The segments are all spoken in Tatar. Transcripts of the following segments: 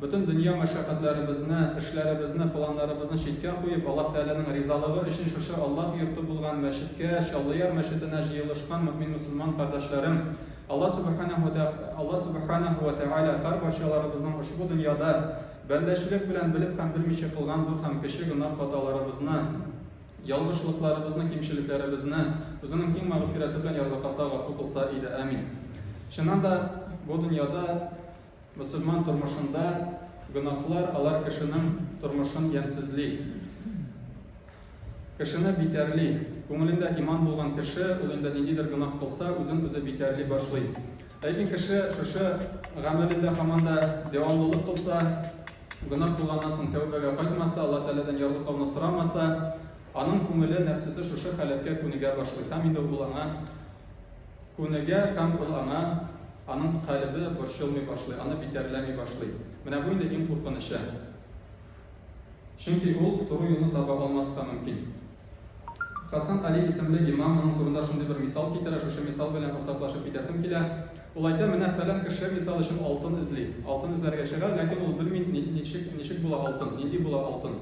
Бөтен дөнья мәшәкатьләребезне, эшләребезне, планнарыбызны читкә куеп, Аллаһ Тәгаләнең ризалыгы өчен шушы Аллаһ йорты булган мәчеткә, Чаллыяр мәчетенә җыелышкан мөэмин-мөселман кардәшләрем, Аллаһ Сүбхәнәһү тә Аллаһ Сүбхәнәһү вә Тәгалә һәрбарчаларыбызның ошбу дөньяда бәндәчелек белән белеп һәм белмичә кылган зур һәм кече гөнаһ-хаталарыбызны, ялгышлыкларыбызны, кимчелекләребезне Үзенең киң мәгъфирәте белән ярбакаса, гафу кылса иде. Әмин. Чыннан да, бу дөньяда. Мөселман тормышында гөнаһлар алар кешенең тормышын ямьсезли, кешене битәрли. Күңелендә иман булган кеше, ул инде ниндидер гөнаһ кылса, үзен үзе битәрли башлый. Ләкин кеше шушы гамәлендә һаман да дәвамлылык кылса, гөнаһ кылганнан соң тәүбәгә кайтмаса, Аллаһ Тәгаләдән ярлыклауны сорамаса, аның күңеле, нәфсесе шушы халәткә күнегә башлый һәм инде ул аңа Күнегә һәм ул аңа, аның калебе борчылмый башлый, аны битәрләми башлый. Менә бу инде иң куркынычы. Чөнки ул туры юлны таба алмаска мөмкин. Хасан Али исемле имам моның турында шундый бер мисал китерә, шушы мисал белән уртаклашып китәсем килә. Ул әйтә, менә фәлән кеше мисал өчен алтын эзли. Алтын эзләргә чыга, ләкин ул белми ни, ничек, ничек була алтын, нинди була алтын.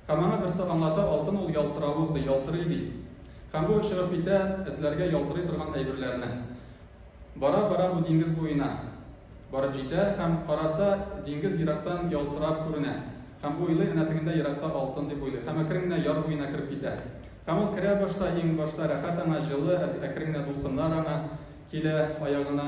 Һәм аңа берсе аңлата, алтын ул ялтыравык, ди, ялтырый, ди. Һәм бу очырып китә эзләргә ялтырый торган әйберләрне. Бара-бара бу диңгез буена барып җитә һәм караса, диңгез ерактан ялтырап күренә. Һәм уйлый, әнә тегендә еракта алтын, дип уйлый. Һәм әкрен генә яр буена кереп китә. Һәм ул керә башта, иң башта рәхәт аңа, җылы, әкрен генә дулкыннар аңа килә аягына.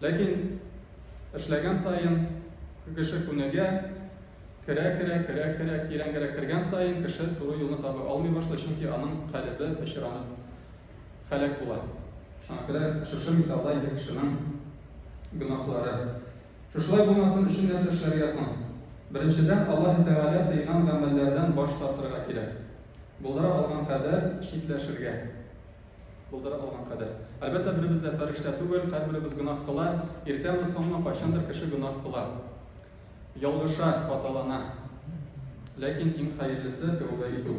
Ләкин эшләгән саен кеше күнегә, керә-керә, керә-керә, тирәнгәрәк кергән саен кеше туры юлны таба алмый башлый, чөнки аның калебе пычранып һәлак була. Шуңа күрә шушы мисалда инде кешенең гөнаһлары. Шушылай булмасын өчен нәрсә эшләргә соң? Беренчедән, Аллаһы Тәгалә тыйган гамәлләрдән баш тартырга кирәк. Булдыра алган кадәр читләшергә. Булдыра алган кадәр. Әлбәттә, беребез дә фәрештә түгел, һәрберебез гөнаһ кыла. Иртәме, соңмы, кайчандыр кеше гөнаһ кыла. Ялгыша, хаталана. Ләкин иң хәерлесе, тәүбә итү.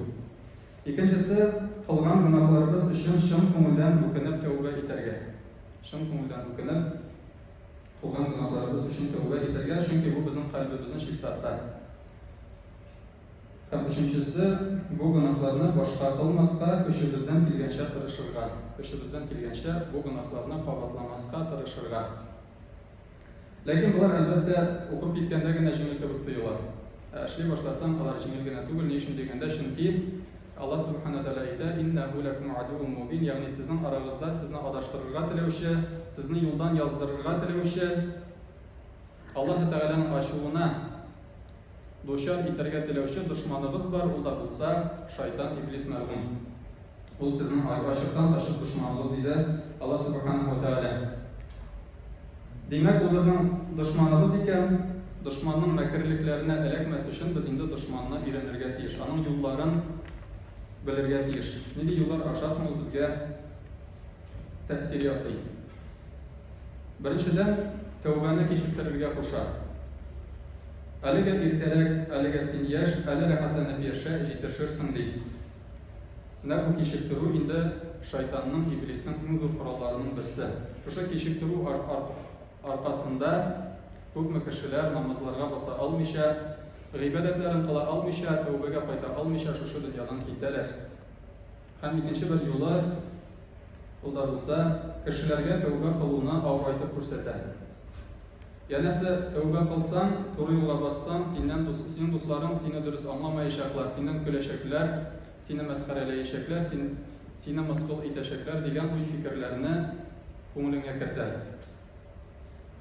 Икенчесе, кылган гөнаһларыбыз өчен чын күңелдән үкенеп тәүбә итәргә. Чын күңелдән үкенеп, кылган гөнаһларыбыз өчен тәүбә итәргә, чөнки бу безнең кальбебезне чистарта. Һәм өченчесе, бу гөнаһларны башка кылмаска, көчебездән килгәнчә тырышырга. Көчебездән килгәнчә бу гөнаһларны кабатламаска тырышырга. Ләкин болар, әлбәттә, укып киткәндә генә җиңел кебек тоела. Ә эшли башласаң, алар җиңел генә түгел, ни өчен дигәндә, чөнки Аллаһ Субхана Тәгалә әйтә, Иннәһу ләкум адуун мубин, ягъни сезнең арагызда сезне адаштырырга теләүче, сезне юлдан яздырырга теләүче, Аллаһы Тәгаләнең ачуына дучар итәргә теләүче дошманыгыз бар, ул да булса, шайтан иблис мәргүм. Ул сезнең ачыктан-ачык дошманыгыз, диде Аллаһ Сүбхәнәһү вә Тәгалә. Димәк, ул безнең дошманыбыз икән. Дошманның мәкерлекләренә эләкмәс өчен без инде дошманны өйрәнергә тиеш, аның юлларын белергә тиеш. Нинди юллар аша соң ул безгә тәэсир ясый. Беренчедән, тәүбәне кичектерергә куша. Әлегә иртәрәк, әлегә син яшь, әле рәхәтләнеп яшә, җитешерсең, ди. Менә бу кичектерү инде шайтанның, иблиснең иң зур коралларының берсе. Шушы кичектерү аркасында күпме кешеләр намазларга баса алмыйча, гыйбадәтләрен кыла алмыйча, тәүбәгә кайта алмыйча шушы дөньядан китәләр. Һәм икенче бер юлы, ул да булса, кешеләргә тәүбә кылуны авырайтып күрсәтә. Янәсе, тәүбә кылсаң, туры юлга бассаң, синнән дус, синең дусларың сине дөрес аңламаячаклар, синнән көләчәкләр, сине мәсхәрәләячәкләр, син, сине мыскыл итәчәкләр дигән уй-фикерләрне күңелеңә кертә.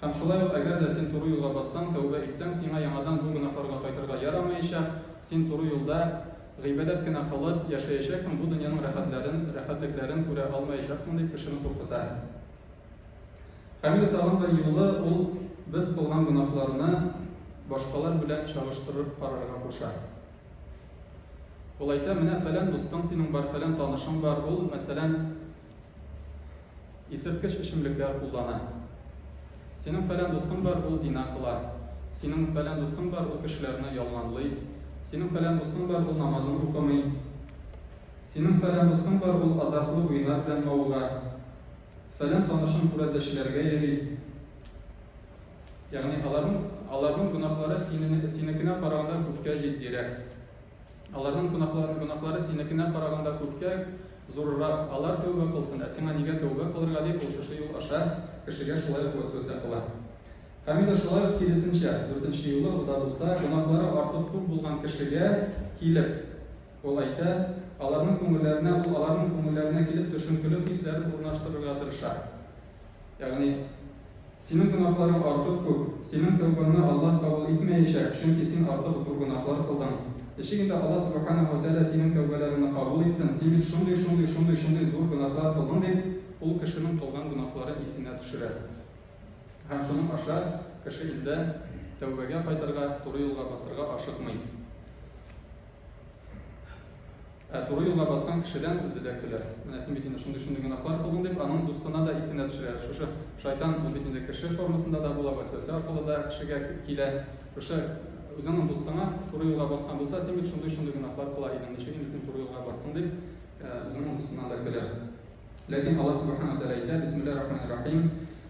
Һәм шулай ук, әгәр дә син туры юлга бассаң, тәүбә итсәң, сиңа яңадан бу гөнаһларга кайтырга ярамаячак, син туры юлда гыйбадәт кенә кылып яшәячәксең, бу дөньяның рәхәтләрен, рәхәтлекләрен күрә алмаячаксың, дип кешене куркыта. Һәм инде тагын бер юлы ул без кылган гөнаһларны башкалар белән чагыштырып карарга куша. Ул әйтә, менә фәлән дустың синең бар, фәлән танышың бар, ул, мәсәлән, Исерткеч эчемлекләр куллана. Синең фәлән дустың бар, ул зина кыла. Синең фәлән дустың бар, ул кешеләрне ялганлый. Синең фәлән дустың бар, ул намазын укымый. Синең фәлән дустың бар, ул азартлы уеннар белән мавыга. Фәлән танышың күрәзәчеләргә йөри. Ягъни аларның, аларның гөнаһлары синене, синекенә караганда күпкә җитдирәк. Аларның гөнаһлары, гөнаһлары синекенә караганда күпкә зурырак, алар тәүбә кылсын, ә сиңа нигә тәүбә кылырга, дип, ул шушы юл аша кешегә шулай ук вәсвәсә кыла. Камила шулай ук киресенчә, дүртенче юлы да булса, гөнаһлары артык күп булган кешегә килеп, ул әйтә, аларның күңелләренә, ул аларның күңелләренә килеп төшенкеле хисләр урнаштырырга тырыша. Ягъни. Синең гөнаһларың артык күп, синең тәүбаңне Аллаһ кабул итмәячәк, чөнки син артык зур гөнаһлар кылдың. Ничек инде Аллаһ Сүбхәнәһү вә Тәгалә синең тәүбәләреңне кабул итсен, син бит шундый, шундый, шундый, шундый зур гөнаһлар кылдың, дип, ул кешенең кылган гөнаһларын исенә төшерә. Һәм шуның аша кеше инде тәүбәгә кайтырга, туры юлга басырга ашыкмый. Ә туры юлга баскан кешедән үзе дә көлә. Менә син бит инде шундый-шундый гөнаһлар кылдың, дип, аның дустына да исенә төшерә. Шушы шайтан, ул бит инде кеше формасында да була, вәсвәсә аркылы да кешегә килә. Шушы үзеңнең дустыңа туры юлга баскан булса, син бит шундый-шундый гөнаһлар кыла идең, ничек инде син туры юлга бастың, дип, үзеңнең дустыңа да көлә. Ләкин Аллаһ Сүбхәнәһү ва Тәгалә әйтә, Бисмиллаһир-Рахманир-Рахим.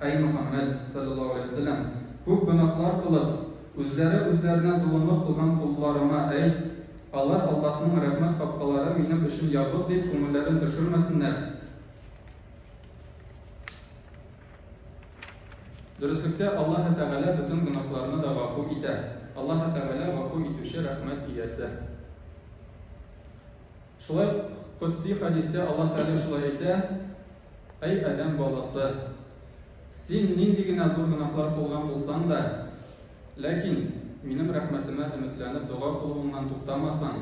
Әй Мөхәммәд, салләллаһу галәйһи ва сәлләм, күп гөнаһлар кылып, үзләре үзләренә золымлык кылган колларыңа әйт, алар Аллаһның рәхмәт капкалары минем өчен ябык дип күңелләрен төшермәсеннәр. Дөреслектә, Аллаһы Тәгалә бөтен гөнаһларны да гафу итә. Аллаһы Тәгалә, Гафу Итүче, Рәхмәт Иясе. Шулай ук Котси хәдистә Аллаһ Тәгалә шулай әйтә, Әй адәм баласы! Син нинди генә зур гөнаһлар кылган булсаң да, ләкин Минем рәхмәтемә өметләнеп дога кылуыңнан туктамасаң,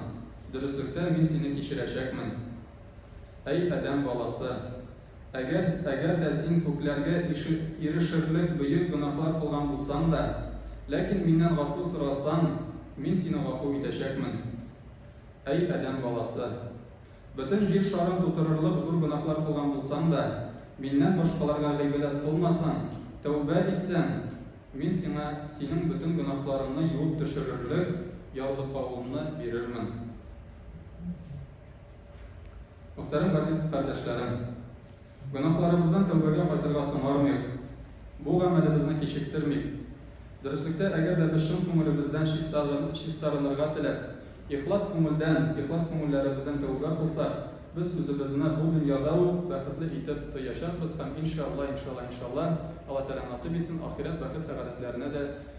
дөреслектә Мин сине кичерәчәкмен. Әй адәм баласы! Әгәр, әгәр дә син күкләргә ише, ирешерлек бөек гөнаһлар кылган булсаң да, ләкин Миннән гафу сорасаң, Мин сине гафу итәчәкмен. Әй адәм баласы! Бөтен җир шарын тутырырлык зур гөнаһлар кылган булсаң да, миннән башкаларга гыйбадәт кылмасаң, тәүбә итсәң, Мин сиңа синең бөтен гөнаһларыңны юып төшерерлек ярлыкавымны бирермен. Мөхтәрәм газиз кардәшләрем! Гөнаһларыбыздан тәүбәгә кайтырга соңармыйк, бу гамәлебезне кичектермик. Дөреслектә, әгәр дә без чын күңелебездән чистарынырга теләп, ихлас күңелдән, ихлас күңелләребездән тәүбә кылсак, без үзебезне бу дөньяда ук бәхетле итеп тоячакбыз һәм, иншалла, иншалла, иншалла, Алла Тәгалә насыйп итсен, ахирәт бәхет-сәгадәтләренә дә